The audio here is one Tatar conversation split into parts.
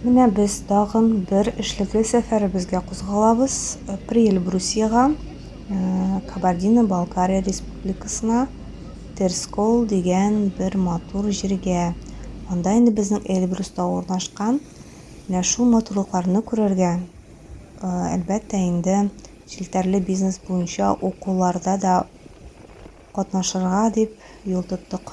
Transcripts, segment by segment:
Менә без тагын бер эшлекле сәфәребезгә кузгалабыз. Приэльбрусиягә, э, Кабардино-Балкария республикасына, Терскол дигән бер матур җиргә. Анда инде безнең Эльбрус тавы урнашкан. Менә шул матурлыкларны күрергә, э, әлбәттә инде, челтәрле бизнес буенча укуларда да катнашырга дип юл тоттык.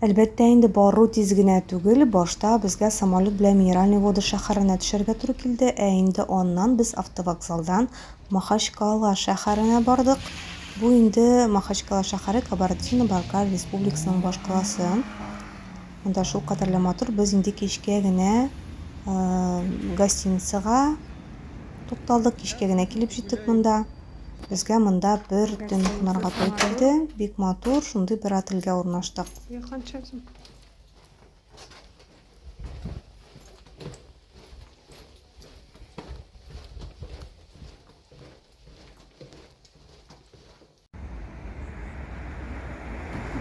Әлбәттә инде бару тиз генә түгел, башта безгә самолет белән Минеральные Воды шәһәренә төшәргә туры килде, ә инде аннан без автовокзалдан Махачкала шәһәренә бардык. Бу инде Махачкала шәһәре Кабардино-Балкар Республикасының башкаласы. Монда шул кадәрле матур, без инде кичкә генә гостиницага тукталдык, кичкә генә килеп җиттек монда. Безгә монда бер төн кунарга туй килде. Бик матур, шундый бер отельгә урнаштык.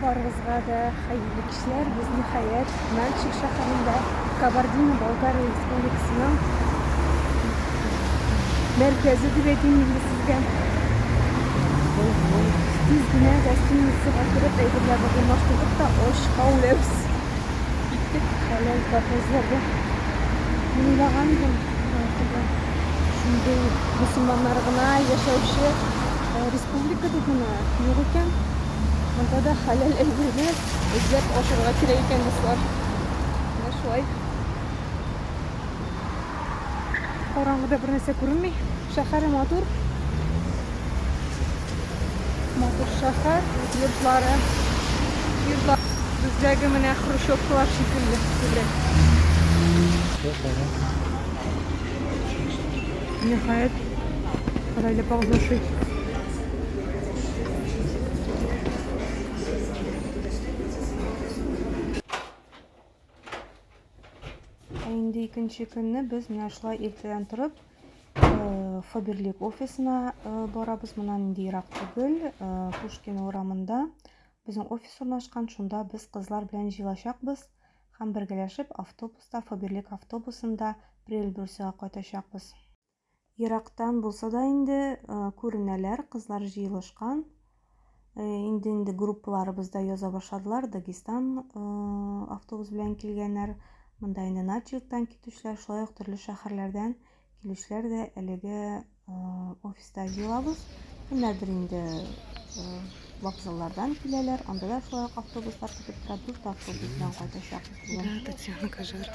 Барыгызга да хәерле кичләр. Без ниһаять Нальчик шәһәрендә Кабардино-Балкария республикасының мәркәзе дип әйтим инде сезгә. Тиз генә гостиницага кереп әйберләрне урнаштырдык та очка үләбез. Киттек хәләл заты эзләргә. Мин уйлаган идем, шундый мусульманнар гына яшәүче Ә республикада гына юк икән. Монда да хәләл әйберне эзләп ашарга кирәк икән, дуслар. Менә шулай. Караңгыда бер нәрсә күренми. Шәһәре матур. Матур шәһәр, йортлары. Йортлар бездәге менә хрущевкалар шикелле. Шәһәр. Ниһаять, Гаилә паузаши. Ә инде икенче көнне без менә шулай иртәдән торып э, Фаберлик офисына э, барабыз. Моннан инде ерак түгел, э, Пушкин урамында безнең офис урнашкан. Шунда без кызлар белән җыелачакбыз. Һәм бергәләшеп автобуста, Фаберлик автобусында Прельбрусига кайтачакбыз. Ерактан булса да инде күренәләр, кызлар җыелышкан. Инде-инде группаларыбыз да яза башладылар. Дагестан автобус белән килгәннәр. Монда инде начилктан китүчеләр, шулай ук төрле шәһәрләрдән килүчеләр дә әлеге офиста җыелабыз. Кемнәрдер инде вокзаллардан киләләр, анда да шулай ук автобуслар көтеп тора, дүрт автобус белән кайтачакбыз бүген. Да, Татьяна Кажар.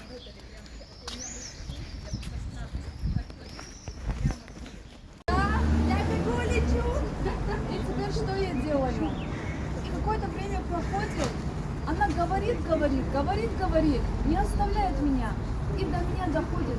Какое-то время проходит, она говорит, говорит, говорит, говорит, не оставляет меня. И до меня доходит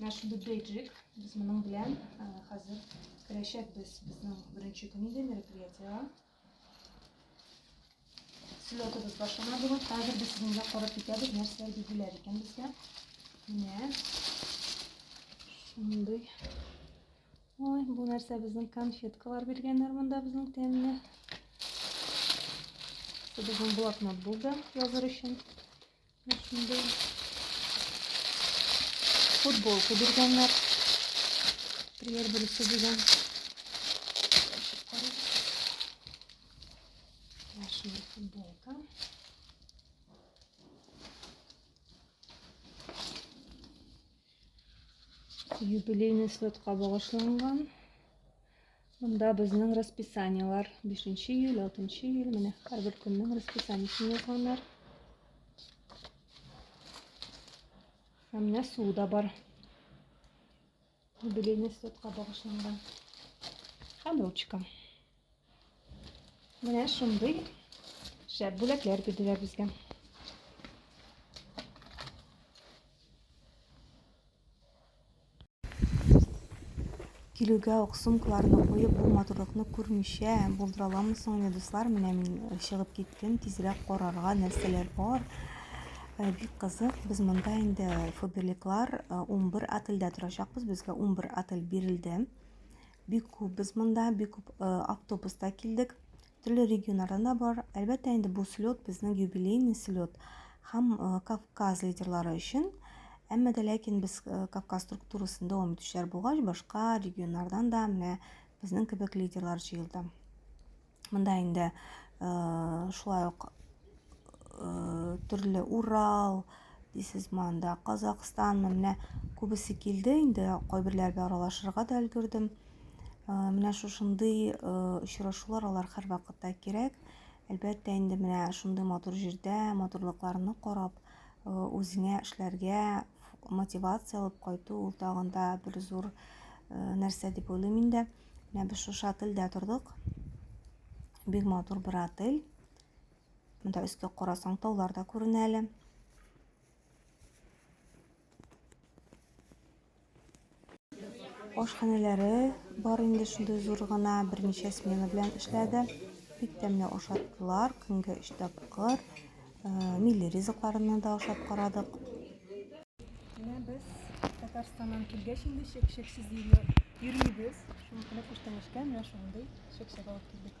Наш бөбейджик, без моның белән хәзер керәчәкбез безнең беренче көн иде мероприятиега. Слетыбыз башлана бүген. Хәзер без сезгә карап китәбез, нәрсәләр бирделәр икән безгә. Менә шундый. Ой, бу нәрсә безнең конфеткалар биргәннәр монда безнең тәмле. Безнең блокнот булды языр өчен. Шундый футболка биргәннәр. Премьер берсе дигән. Шундый футболка. Юбилейный слетка багышланган. Монда безнең расписаниелар. 5 нче июль, 6 нчы июль. Менә һәрбер көннең расписаниесен язганнар. Һәм менә суы да бар. Юбилейный слетка багышланган. Һәм ручка. Менә шундый шәп бүләкләр бирделәр безгә. Килүгә үк сумкаларны куеп, бу матурлыкны күрмичә булдыра аламы соң ни, дуслар? Менә мин э, чыгып киттем, тизрәк карарга нәрсәләр бар. Э, бик кызык, без монда инде фоберликлар 11 э, отельдә торачакбыз, безгә 11 отель бирелде. Бик күп без монда, бик күп автобуста килдек. төрле регионнардан да бар. Әлбәттә инде бу слет безнең юбилейный слет һәм э, Кавказ лидерлары өчен. Әмма дә ләкин без э, Кавказ структурасын дәвам итүчеләр булгач, башка регионнардан да менә безнең кебек лидерлар җыелды. Монда инде э, шулай ук төрле Урал, дисез монда Казахстан, менә күбесе килде инде, кайберләр белән аралашырга да өлгердем. Э, менә шушындый э, очрашулар алар һәрвакытта кирәк. Әлбәттә, инде менә шундый матур җирдә матурлыкларны карап, э, үзеңә эшләргә мотивация алып кайту ул тагын да бер зур нәрсә дип уйлыйм инде. Менә без шушы отельдә тордык. Бик матур бер отель. Монда өскә карасаң таулар да күренә әле. Ашханәләре бар инде шундый зур гына, берничә смена белән эшләде. Бик тәмле ашаттылар, көнгә өч тапкыр. Э, милли ризыкларны да ашап карадык. Менә без Татарстаннан килгәч инде чек-чексез йөрмибез. Шуңа күрә күчтәнәчкә менә шундый чек-чәк алып килдек.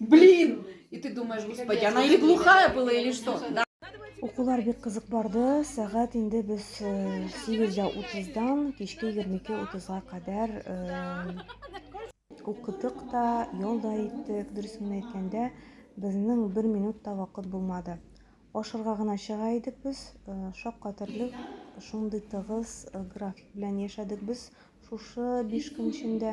Блин! И ты думаешь, господи, она или глухая была, или что? Да. Укулар бик кызык барды. Сәгать инде без 8.30-дан э, кичке 22.30-га кадәр э, укыдык та, ял да иттек. Дөресен әйткәндә, безнең бер минут та вакыт булмады. Ашырга гына чыга идек без, э, шаккатырлык шундый тыгыз график белән яшәдек без шушы 5 көн эчендә.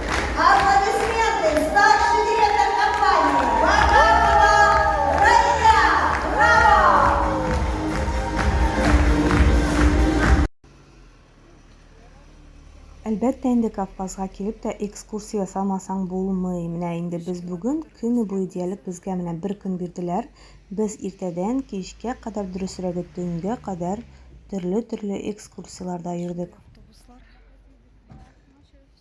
Әлбәттә инде Кавказга килеп тә экскурсия ясамасаң булмый. Менә инде без бүген көне буе диярлек безгә менә бер көн бирделәр. Без иртәдән кичкә кадәр дөресрәге төнгә кадәр төрле-төрле экскурсияләрдә йөрдек.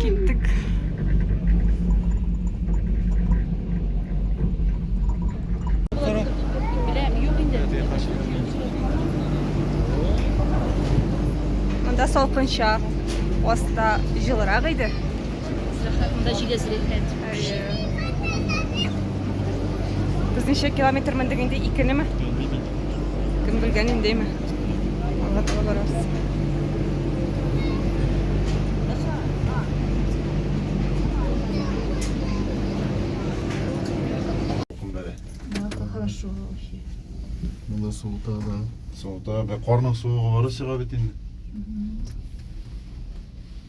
Киттек. Анда салкынча, аста җылырак иде. Без ничә километр мендек инде? Икенеме? Кем белгән индеме? Алла таба Хорошо вообще. Мында суыта да. Суыта, бә карның суыгы бары сиңа бит инде.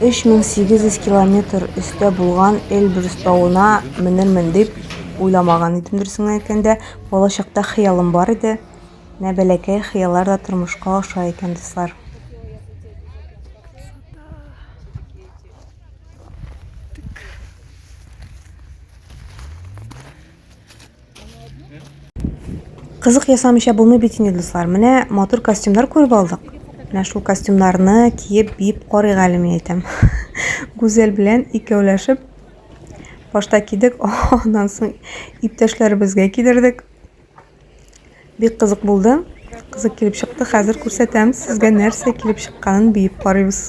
3800 километр өстә булган Эльбрус тауына менермен дип уйламаган идем дөресен әйткәндә. Балачакта хыялым бар иде. Менә бәләкәй хыяллар да тормышка аша икән, дуслар. Кызык ясамыйча булмый бит инде, дуслар. Менә матур костюмнар күреп алдык. Менә шул костюмнарны киеп биеп карыйк әле, мин әйтәм. Гүзәл белән икәүләшеп башта кидек, аннан соң иптәшләребезгә кидердек. Бик кызык булды. Кызык килеп чыкты. Хәзер күрсәтәм сезгә нәрсә килеп чыкканын биеп карыйбыз.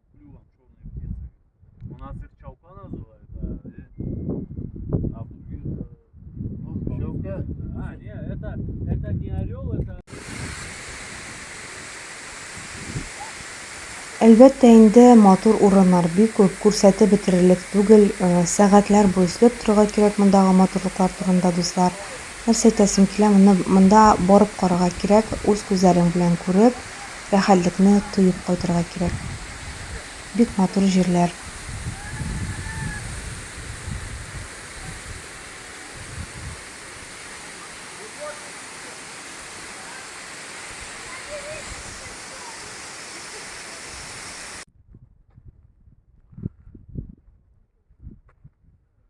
Клювом черные птицы. У нас их чалка называют, а, и... а в других... Э, ну, Щелка? А, не, это, это не орел, это... Әлбәттә инде матур урыннар бик күп, күрсәтеп бетерерлек түгел, э, сәгатьләр буе эзләп торырга кирәк мондагы матурлыклар турында, дуслар. Нәрсә әйтәсем килә, моны монда барып карарга кирәк, үз күзләрең белән күреп, Рәхәтлекне тоеп кайтырга кирәк. Бик матур җирләр.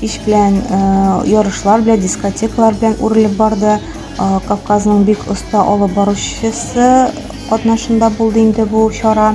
Кич белән ярышлар белән, дискотекалар белән үрелеп барды. Кавказның бик оста алып баручысы катнашында булды инде бу чара.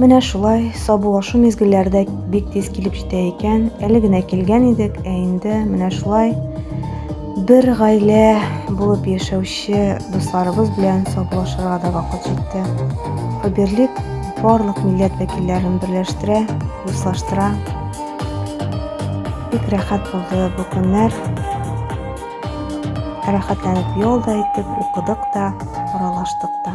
Менә шулай сабулашу мизгелләре дә бик тиз килеп җитә икән. Әле генә килгән идек, ә инде менә шулай бер гаилә булып яшәүче дусларыбыз белән сабулашырга да вакыт җитте. Фаберлик барлык милләт вәкилләрен берләштерә, дуслаштыра. Бик рәхәт булды бу көннәр. Рәхәтләнеп ял да иттек, укыдык та, аралаштык та.